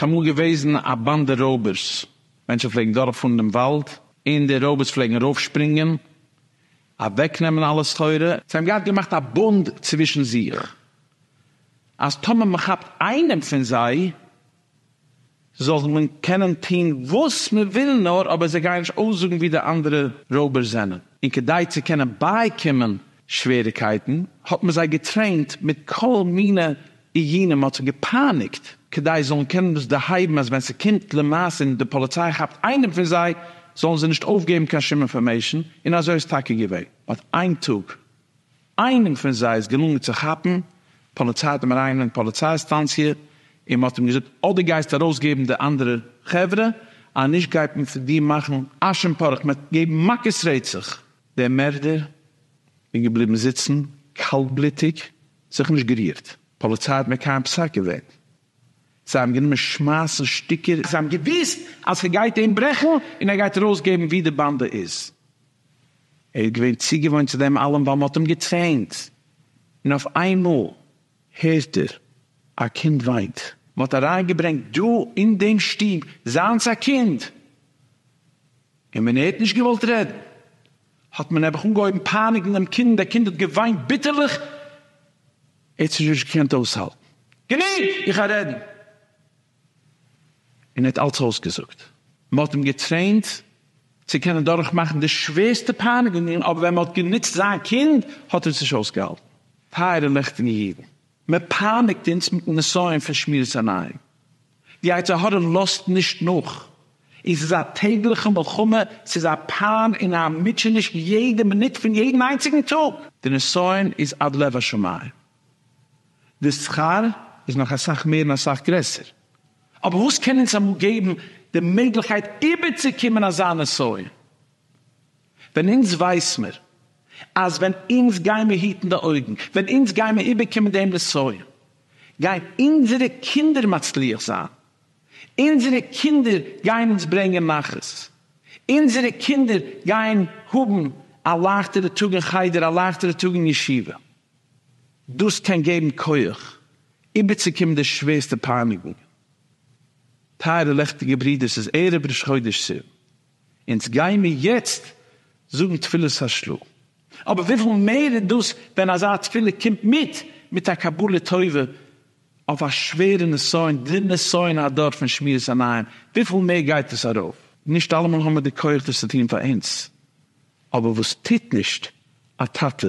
ס'איז אמאל געוועזן א באנדע רויבערס, מענטשן פלעגן דורכפארן דעם וואלד, און די רויבערס פלעגן ארויפשפרינגען, אוועקנעמען אלע סחורה. זיי האבן געהאט געמאכט א בונד צווישן זיך, אז טאמער מ'כאפט איינעם פון זיי, זאל מען קענען טון וואס מען וויל נאר, אבער זיי גייען נישט אויסזאגן ווי די אנדערע רויבערס זענען, און כדי צו קענען בייקומען שוועריקייטן האט מען זיי געטרעינט מיט כל מיני איומים, מען האט זיי געפייניגט כדי זיי זאלן קענען דאס דערהייבן אז ווען ס'קומט למעשה און די פאליציי כאפט איינעם פון זיי זאלן זיי נישט אויפגעבן קיין שום אינפארמעישן, און אזוי איז טאקע געווען, מען האט איין טאג. איינעם פון זיי איז געלונגען צו כאפן, פאליציי האט אים אריינגענומען פאליציי סטאנציע און מען האט אים געזאגט אדער גייסטו ארויסגעבן די אנדערע חברה, אז נישט גייט מען פון דיר מאכן אש און פארעך, מען וועט געבן מכות רצח. דער מערדער איז געבליבן זיצן קאלטבלוטיג, זיך נישט גערירט, פאליציי האט מקיים פסק געווען, זיי האבן גענומען שמייסן שטיקער. זיי האבן געוואוסט אז ס'גייט אים ברעכן און ער גייט ארויסגעבן וואו די באנדע איז. ער איז געווען צוגעוואוינט צו דעם אלעם ווייל מ'האט אים געטרעינט. און אויף איינמאל הערט ער א קינד וויינט. מ'האט אריינגעברענגט דא אין דעם שטוב זיינס א קינד. און ווען ער האט נישט געוואלט רעדן האט מען נעבעך אנגעהויבן פייניגן דעם קינד און דער קינד האט געוויינט ביטערליך. ער האט זיך נישט געקענט אויסהאלטן. גענוג! איך גיי רעדן! און ער האט אלץ אויסגעזאגט. מען האט אים געטרעינט צו קענען דורכמאכן די שווערסטע פייניגונגען, אבער ווען מען האט גענוצט זיין קינד, האט ער עס נישט אויסגעהאלטן. טייערע לעכטיגע אידן, מען פייניגט אונז מיט'ן נסיון פון שמירת עיניים. די יצר הרע לאזט נישט נאך, און ס'איז א טעגליכע מלחמה, ס'איז א פיין און א מוטשעניש יעדע מינוט פון יעדן איינציגן טאג. די נסיון איז עד לב השמים, די שכר איז נאך אסאך מער און אסאך גרעסער, אבער וואס קען אונז אמאל געבן די מעגליכקייט איבערצוקומען אזא נסיון, ווען אונז ווייס מיר אז ווען אונז גיימער היטן די אויגן, ווען אונז גיימער איבערקומען דעם נסיון, גייען אונזערע קינדער מצליח זיין? אונזערע קינדער גייען אונז ברענגען נחת? אונזערע קינדער גייען האבן א לייכטערע טאג אין חדר, א לייכטערע טאג אין ישיבה? דאס קען געבן כח איבערצוקומען די שווערסטע פייניגונגען. טייערע לעכטיגע ברידער, ס'איז ערב ראש חודש סיוון. אונז גיימיר יעצט זאגן תפילת השל ה, אבער וויפיל מער איז דאס ווען אזא תפילה קומט מיט מיט א קבלה טובה אויף א שווערע נסיון, די נסיון הדור פון שמירת עיניים, וויפיל מער גייט דאס ארויף. נישט אלעמאל האמיר די כח דאס צו טון פאר אונז, אבער וואס טוט נישט א טאטע